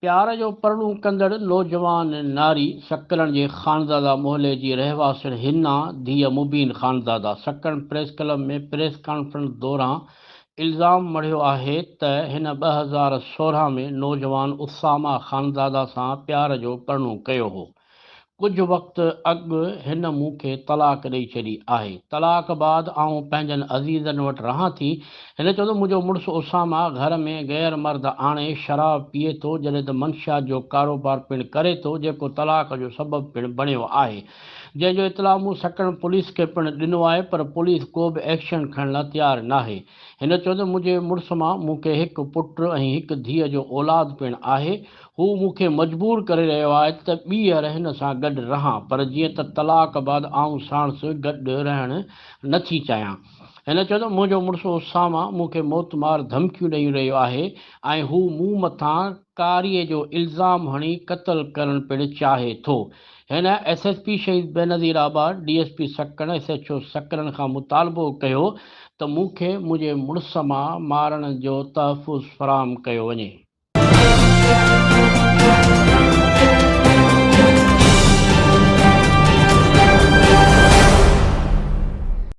پيار جو پرڙون ڪندڙ نوجوان ناري سڪرڻ جي خانزاده محلي جي رهواسڻ حنا ڌيء Mubeen Khanzada Sakrand press club ۾ press conference دوران الزام مڙهيو آهي ته هن ٻه هزار سورهن ۾ نوجوان اسامه خانزاده سان پيار جو پرڙون ڪيو هو ڪجهه وقت اڳ هن مون کي طلاق ڏئي ڇڏي آهي. طلاق بعد آئون پنهنجن عزيزن وٽ رهان ٿي. هن چيو ته منهنجو مڙس اسامه گهر ۾ غير مرد آڻي شراب پيئي ٿو جڏهن ته منشيات جو ڪاروبار پڻ ڪري ٿو جيڪو طلاق جو سبب پڻ بڻيو آهي جنهن جو اطلاع مون سٽڻ پوليس کي پڻ ڏنو آهي پر پوليس ڪو به ايڪشن کڻڻ لا تيار ناهي. هن چيو ته منهنجي مڙس مان مون کي هڪ پٽ ۽ هڪ ڌيء جو اولاد پڻ آهي، هو مون کي مجبور ڪري رهيو آهي ته ٻيهر هن سان گڏ رهان پر جيئن ته طلاق بعد آئون ساڻس گڏ رهڻ نه ٿي چاهيان. هن چيو ته منهنجو مڙس اسامه مون کي موتمار ڌمڪيون ڏئي رهيو آهي ۽ هو مون مٿان ڪاري جو الزام هڻي قتل ڪرڻ پڻ چاهي ٿو. هن S S P Shaheed Benazirabad, D S P Sakrand, S H O Sakrand کان مطالبو ڪيو ته مون کي منهنجي مڙس مان مارڻ جو تحفظ فراهم ڪيو وڃي.